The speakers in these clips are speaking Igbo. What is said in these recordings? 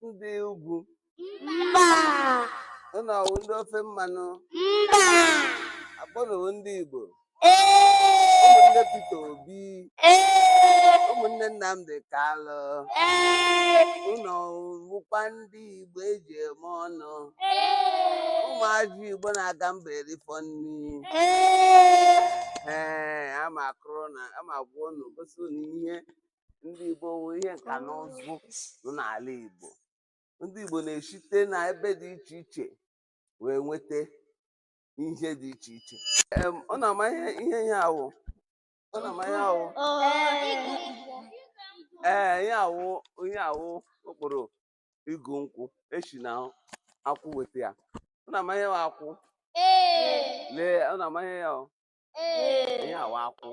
ndị ugwu mba ụnụ ọwụ ndị ofe mmanụ mba akwa ụnụ wụ ndị igbo ee ụmụnne peter obi ee ụmụnne nnamdị kalụ ee ụnụ wụkwa ndị igbo eji eme ọnụ ụmụazị igbo na-aga mba erifọ nri ee ee ama akọrọ ụnụ ama agwa ụnụ gosi ụnụ ihe ndị Igbo wụ ihe nka na ụzụ nọ n'ala Igbo ndị Igbo na-esite na ebe dị iche iche wee nweta ihe dị iche iche Em, unu ama ihe ihe ihe a wụ unu ama ihe a wụ ee ihe a wụ ihe a wụ okporo igu nkwụ esi na akwụ weta ya unu ama ihe wụ akwụ lee unu ama ihe ya wụ ihe a wụ akwụ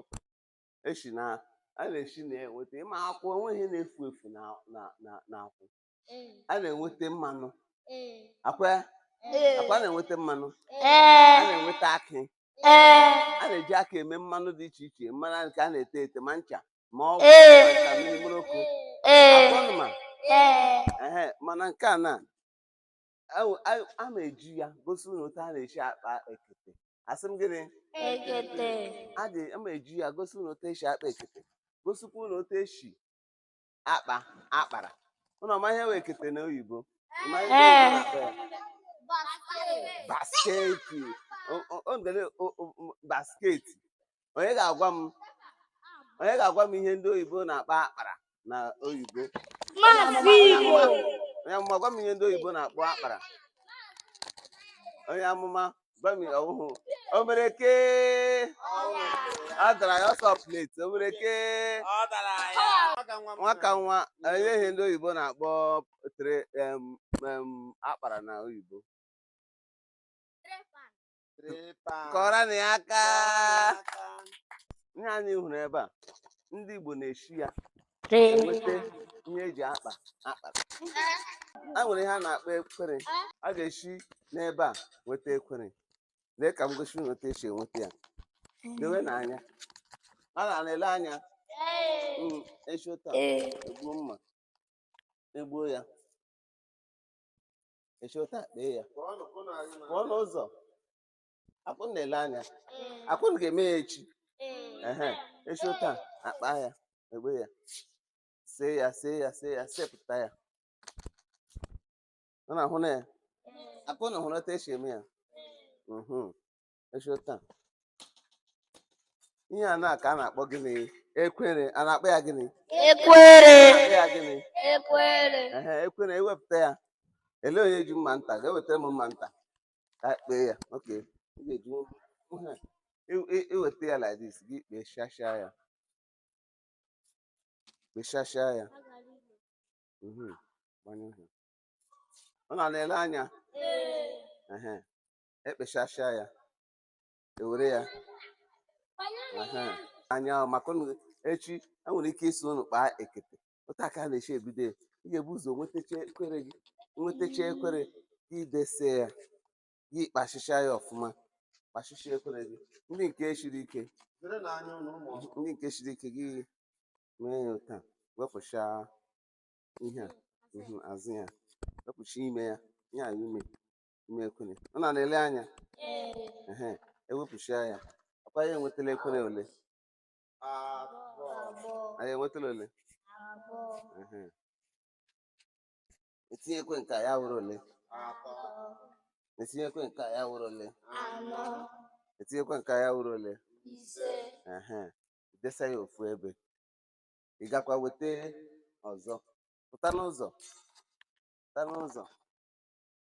esi na a na-esi na ya enweta ị ma akwụ enweghị na-efu efu na na na na akwụ a na-enweta mmanụ akwa ya akwa a na-enweta mmanụ a na-enweta akị a na-eji akị eme mmanụ dị iche iche mmanụ nke a na-ete ete ma ncha ma ọgwụ ma ncha mmiri mkpụrụ okwu akwa unu ma ehe mana nke a na Ewu- a- a ma-eji ya gosi unu otu a na-esi akpa ekete asị m gịnị Ekete. a dị a ma-eji ya gosi unu otu esi akpa ekete gosikwa unu otu esi akpa akpara unu ọ ma ihe wụ ekete na oyibo Ị ma ihe Ee. oyibo na-akpọ ya? basketi O- o- o nwere o- o- o- basketi onye ga-agwa m onye ga-agwa m ihe ndị oyibo na-akpọ akpara na oyibo onye amụma gwa m ihe ndị oyibo na-akpọ akpara onye amụma gwa m ọhụhụ o mere ke ọ dara ya ọ sị pleti o mere ke nwaka nwa onye ihe ndị oyibo na-akpọ akpara na oyibo kụọrọnụ ya aka ihe anyị hụrụ ebe a ndị Igbo na-eshi ya enweta ihe eji akpa akpara a nwere ihe a na-akpọ ekwere a ga-esi n'ebe a nweta ekwere lee ka m gosi unu otu esi enweta ya lewenụ anya a na-ele anya hmm, esi otu a egbuo mma egbuo ya eshi otu a kpee ya pụọ n'ụzọ akwa unu na-ele anya akwa unu ga-eme ya echi ehe eshi otu a akpa ya egbe ya see ya see ya see ya sepụta ya unu ahụna ya akwa unu hụrụ otu esi eme ya mhm. esho taa ihe a n'aka a na-akpọ gịnị ekwere a na-akpọ ya gịnị ekwere akpọ ya gịnị ekwere ehe ekwere ewepụta ya ele onye ji mma nta ga-ewetara m mma nta ka anyị kpee ya okay ị ga-eji ihe i- i- iweta ya like this gị kpechasịa ya kpechasịa ya mhm, gbanye ọhịa. ụnụ na-ele anya ehe ekpechasịa ya ewere ya anya maka ụnụ echi enwere ike ịsị ụnụ kpaa ekete otu a ka a na-esi ebido ya ị ga-ebu ụzọ nwetacha ekwere gị nwetacha ekwere gị dese ya gị kpachicha ya ọfụma kpachicha ekwere gị ndị nke siri ike ndị nke siri ike gị mee ya ụta wepụcha ihe a azụ ya wepụcha ime ya ihe a ime ime ekwene ọ na na-ele anya ehe ewepụchia ya akwa ya enwetala ekwene ole anyị enwetala ole ehe etinye ekwe nke a ya wụrụ ole etinye ekwe nke a ya wụrụ ole etinye ekwe nke a ya wụrụ ole ehe desa ya ofu ebe ị gakwa weta ọzọ pụta n'ụzọ pụta n'ụzọ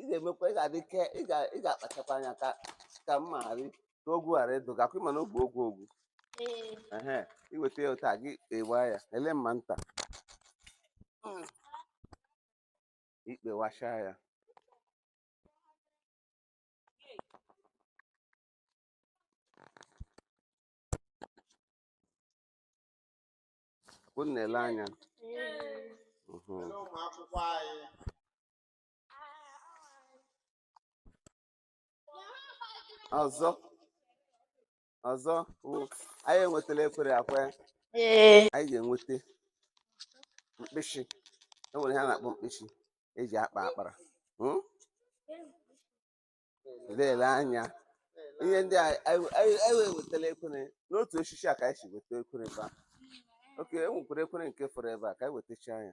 ị ga-emekwa ị ga-adị ke ị ga- ị ga-akpachakwa anya ka ka mma ghara ị- ka ogwu ghara ịdụ gị akwa ị ma na ogwu ogwu ogwu Ee. ehe iweta ya otu a gị kpewaa ya ele mma nta Mm. ikpewacha ya ụnụ na-ele anya Ee. Mhm. Ele ụmụ akwụkwọ anyị ọzọ ọzọ wụ anyị enwetala ekwere akwa Ee. anyị ga-enweta mkpịsị e nwere ihe a na-akpọ mkpịsị eji akpa akpara Hmm? lele anya ihe ndị a anyị anyị- anyị wee wetala ekwere n'otu osisi a ka anyị si weta ekwere ebe a okay e nwekwara ekwere nke fọrọ ebe a ka anyị wetacha ya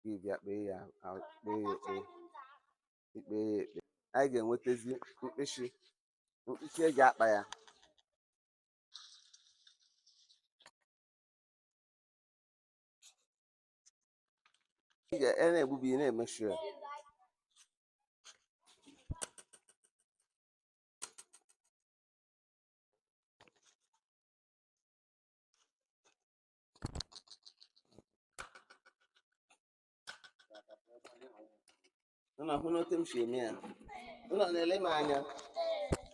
gị bịa kpee ya kpee ya ekpe ikpe ya ekpe anyị ga-enwetazi mkpịsị mkpịsị eji akpa ya ị na-egbubi na-emechi ya Unu ahụna otu m si eme ya. Unu na-ele m anya.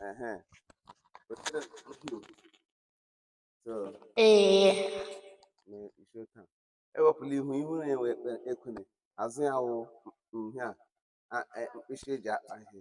Ehe. Wetere m okwu. So, Ee. na- iso taa. Ewepụla ihu ihu na-enwe ekpe- ekwere. Azụ ya wụ ihe a a- e- mkpịsị eji akpa ihe.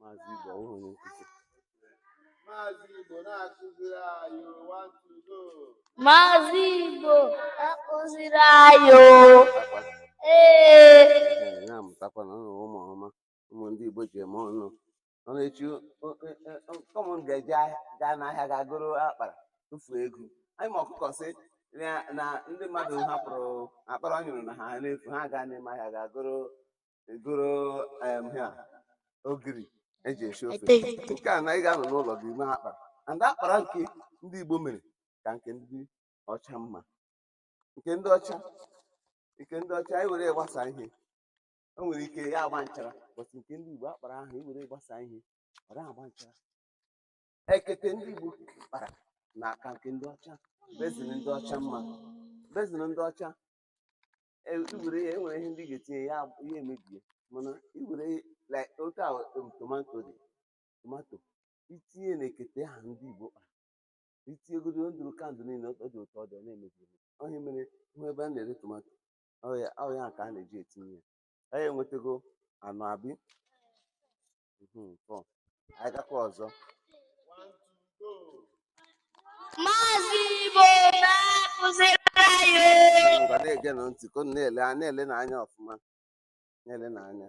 maazị Igbo ọwụghị onye nkụzi maazị Igbo na-akụziri anyị ụwa ntụgo maazị Igbo na-akụziri anyị ee na-amụtakwanụ ụmụ ọma ụmụ ndị Igbo ji eme ọnụ ọ na-echi ụmụ m ga-eje gaa n'ahịa ga goro akpara tụfuo ego anyị ma ọkụkọ sị na ndị mmadụ hapụrụ akpara ọ nyụrụ na ha n'efu ha gaa n'ime ahịa ga goro egoro em ihe a ogiri eji esi ofe Eteghete. nke a na ị ga-anọ n'ụlọ gị mee akpara and akpara nke ndị igbo mere ka nke ndị ọcha mma nke ndị ọcha nke ndị ọcha anyị were ya gbasa ihe o nwere ike ya agba nchara but nke ndị igbo akpara ahụ i were gbasa ihe ọ naghị agba nchara ekete ndị igbo kpara na-aka nke ndị ọcha basin ndị ọcha mma basin ndị ọcha iwere ya enwere ihe ndị ga-etinye ya ihe emebie mana iwere like otu a um, tomato dị tomato itinye na ekete a ndị Igbo kpara itinye godu ndụdụgandụ niile ọ dị otu ọ dị ọ na-emebi emebi ọ ya mere ị hụ ebe a na-ere tomato ọ ya ka a na-eji etinye ya anyị enwetago anọ abi Mhm, four. anyị gakwa ọzọ Maazị Igbo na-akụziri anyị o. ngwa na-egenụ ntị ka unu na-ele a na-elenụ anya ọfụma na-elenụ anya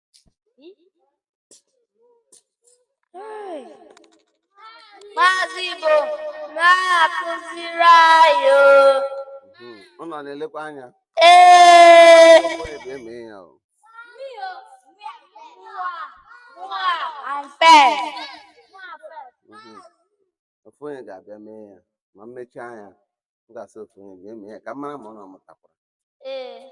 Maazị Igbo na-akụziri anyị o. Hmm, unu na-elekwa anya Ee. Ụmụ ebe eme ya o. I'm fair. Mhm. ofu onye ga-abịa mee ya ma m mechaa ya m ga-asị ofu onye bịa mee ya ka m mara ma unu mụtakwara Ee.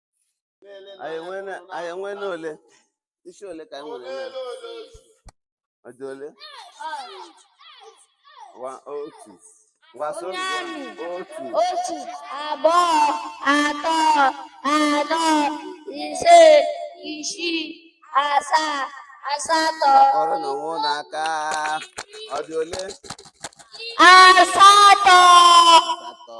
anyị enweela anyị enweela ole isi ole ka anyị nwere na ọ dị ole Wa otu Wa so Onye amị. otu otu abụọ atọ anọ ise isii asaa asatọ ọrụ na onwe ụlọ aka ọ dị ole asatọ asatọ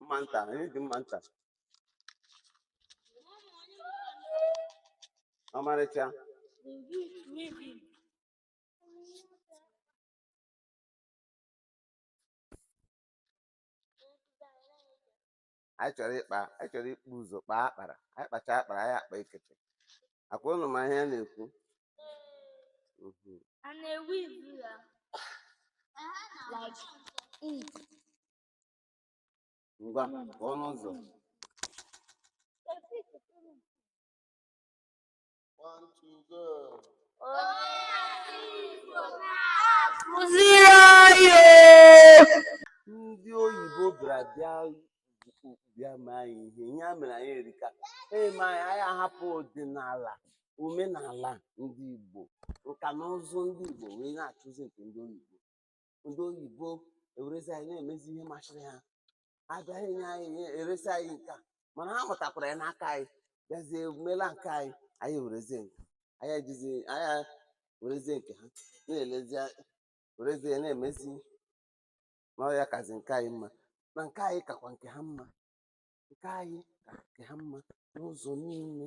mma nta anyị ji mma nta ọmarịcha anyị chọrọ ịkpa anyị chọrọ ibu ụzọ kpaa akpara anyị kpachaa akpara anyị akpaa ekete ọ kwa ụnụ ma ihe a na-ekwu Mhm. a na-ewe ibu ya like ink ngwa pụọ n'ụzọ One, two, go. kụziri anyị ndị oyibo bịara bịa bịa mee anyị ihe ihe e mere anyị erika e mee anyị anyị ahapụ ọdịnala omenala ndị igbo nka na ụzụ ndị igbo wee na-achụzi nke ndị oyibo ndị oyibo ewerezi anyị na-emezi ihe masịrị ha ha bịaghị nye anyị ihe eresi anyị nka mana ha mụtakwara ya n'aka anyị bịazie mela nke anyị anyị werezie nke anyị ejizi anyị werezie nke ha na-elezi werezie na-emezi na ọ ya kazi nke anyị mma na nke anyị kakwa nke ha mma nke anyị ka nke ha mma n'ụzọ niile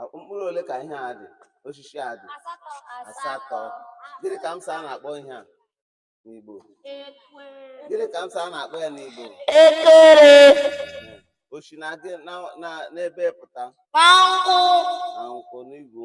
A- mkpụrụ ole ka ihe a dị osisi a dị asatọ asatọ gịnị ka m sị a na-akpọ ihe a n'igbo ekwe gịnị ka m sị a na-akpọ ya n'igbo ekwere o si na gị na- na- n'ebee pụta na nkwụ na nkwụ n'igu